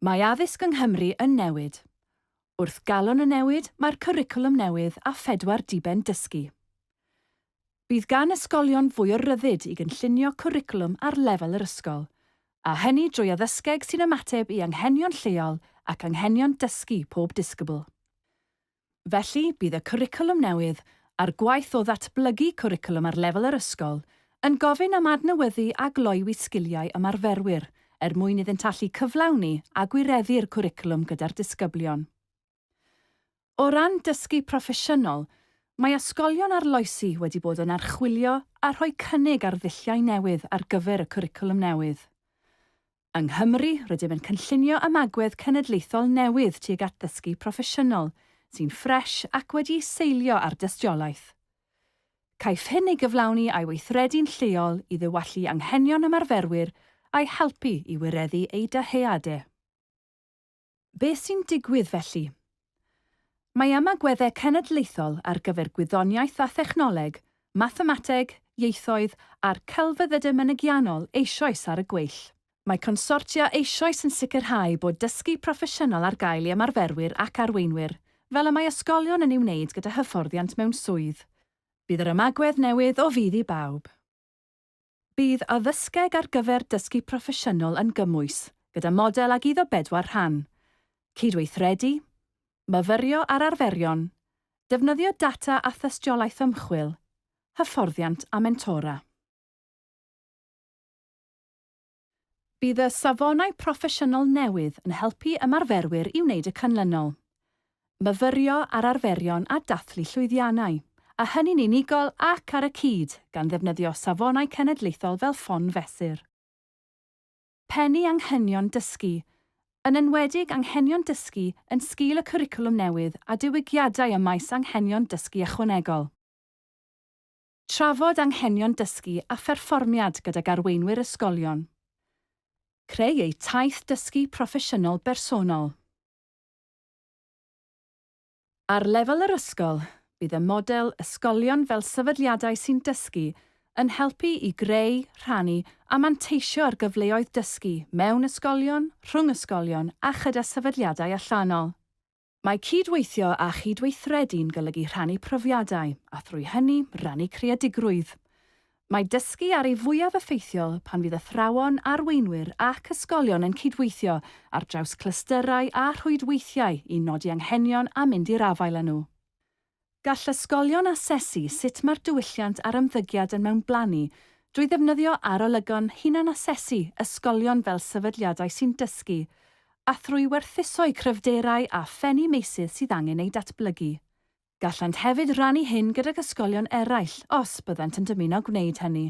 Mae addysg yng Nghymru yn newid. Wrth galon y newid, mae'r cwricwlwm newydd a phedwar diben dysgu. Bydd gan ysgolion fwy o ryddid i gynllunio cwricwlwm ar lefel yr ysgol, a hynny drwy addysgeg sy'n ymateb i anghenion lleol ac anghenion dysgu pob disgybl. Felly, bydd y cwricwlwm newydd, a'r gwaith o ddatblygu cwricwlwm ar lefel yr ysgol, yn gofyn am adnewyddu a gloywi sgiliau ymarferwyr er mwyn iddynt allu cyflawni a gwireddu'r cwricwlwm gyda'r disgyblion. O ran dysgu proffesiynol, mae ysgolion arloesi wedi bod yn archwilio a rhoi cynnig ar ddulliau newydd ar gyfer y cwricwlwm newydd. Yng Nghymru, rydym yn cynllunio ymagwedd cenedlaethol newydd tuag at ddysgu proffesiynol, sy'n ffres ac wedi'i seilio ar dystiolaeth. Caiff hyn ei gyflawni a'i weithredu'n lleol i ddiwallu anghenion ymarferwyr a'i helpu i wireddu eu dyheadau. Beth sy'n digwydd felly? Mae ymagweddau cenedlaethol ar gyfer gwyddoniaeth a thechnoleg, mathemateg, ieithoedd a'r celfyddydau mynegiannol eisoes ar y gweill. Mae consortia eisoes yn sicrhau bod dysgu proffesiynol ar gael i ymarferwyr ac arweinwyr, fel y mae ysgolion yn ei wneud gyda hyfforddiant mewn swydd. Bydd yr ymagwedd newydd o fudd i bawb. Bydd addysgeg ar gyfer dysgu proffesiynol yn gymwys, gyda model ag iddo bedwar rhan, cydweithredu, myfyrio ar arferion, defnyddio data a thystiolaeth ymchwil, hyfforddiant a mentora. Bydd y safonau proffesiynol newydd yn helpu ymarferwyr i wneud y canlynol, myfyrio ar arferion a dathlu llwyddiannau, a hynny'n unigol ac ar y cyd, gan ddefnyddio safonau cenedlaethol fel ffon fesur. Pennu anghenion dysgu, yn enwedig anghenion dysgu yn sgil y cwricwlwm newydd a diwygiadau ym maes anghenion dysgu ychwanegol. Trafod anghenion dysgu a pherfformiad gydag arweinwyr ysgolion. Creu eu taith dysgu proffesiynol bersonol. Ar lefel yr ysgol, bydd y model Ysgolion fel Sefydliadau sy'n Dysgu yn helpu i greu, rhannu a manteisio ar gyfleoedd dysgu mewn ysgolion, rhwng ysgolion a chyda sefydliadau allanol. Mae cyd-weithio a chyd-weithredu'n golygu rhannu profiadau, a thrwy hynny, rannu creadigrwydd. Mae dysgu ar ei fwyaf effeithiol pan fydd athrawon, arweinwyr ac ysgolion yn cyd-weithio ar draws clystyrau a rhwydweithiau i nodi anghenion a mynd i'r afael â nhw. Gall ysgolion asesu sut mae'r diwylliant a'r ymddygiad yn mewnblannu drwy ddefnyddio arolygon hunan-asesu ysgolion fel sefydliadau sy'n dysgu, a thrwy werthuso'u cryfderau a phennu meysydd sydd angen eu datblygu. Gallant hefyd rannu hyn gydag ysgolion eraill os byddant yn dymuno gwneud hynny.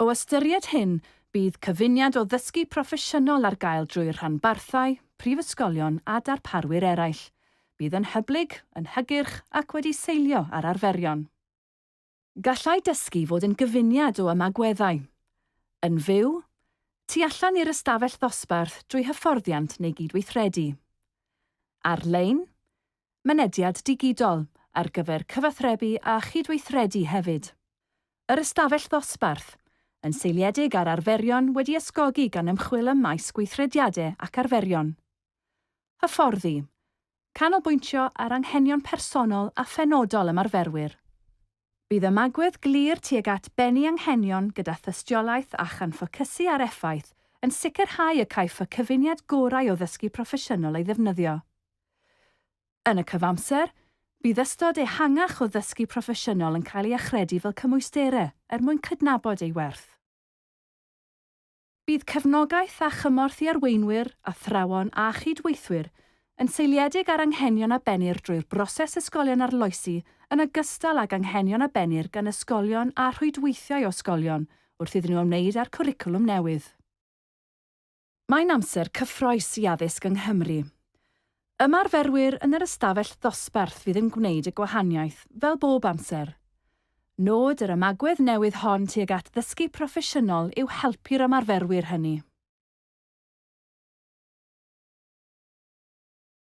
O ystyried hyn, bydd cyfuniad o ddysgu proffesiynol ar gael drwy'r rhanbarthau, prifysgolion a darparwyr eraill. Bydd yn hyblyg, yn hygyrch ac wedi seilio ar arferion. Gallai dysgu fod yn gyfuniad o ymagweddau, yn fyw, tu allan i'r ystafell ddosbarth drwy hyfforddiant neu gydweithredu, ar-lein, mynediad digidol, ar gyfer cyfathrebu a chydweithredu hefyd. Yr ystafell ddosbarth, yn seiliedig ar arferion wedi ysgogi gan ymchwil ym maes gweithrediade ac arferion. Hyfforddi, canolbwyntio ar anghenion personol a phenodol ymarferwyr. Bydd ymagwedd glir tuag at bennu anghenion gyda thystiolaeth a chan ffocysu ar effaith yn sicrhau y caiff y cyfuniad gorau o ddysgu proffesiynol ei ddefnyddio. Yn y cyfamser, bydd ystod ehangach o ddysgu proffesiynol yn cael ei achredu fel cymwysterau er mwyn cydnabod ei werth. Bydd cefnogaeth a chymorth i arweinwyr, athrawon a chyd-weithwyr yn seiliedig ar anghenion a bennir drwy'r broses ysgolion arloesi yn ogystal ag anghenion a bennir gan ysgolion a rhwydweithiau o ysgolion wrth iddyn nhw ymwneud â'r cwricwlwm newydd. Mae'n amser cyffroes i addysg yng Nghymru. Ymarferwyr yn yr ystafell ddosbarth fydd yn gwneud y gwahaniaeth, fel bob amser. Nod yr ymagwedd newydd hon tuag at ddysgu proffesiynol yw helpu'r ymarferwyr hynny.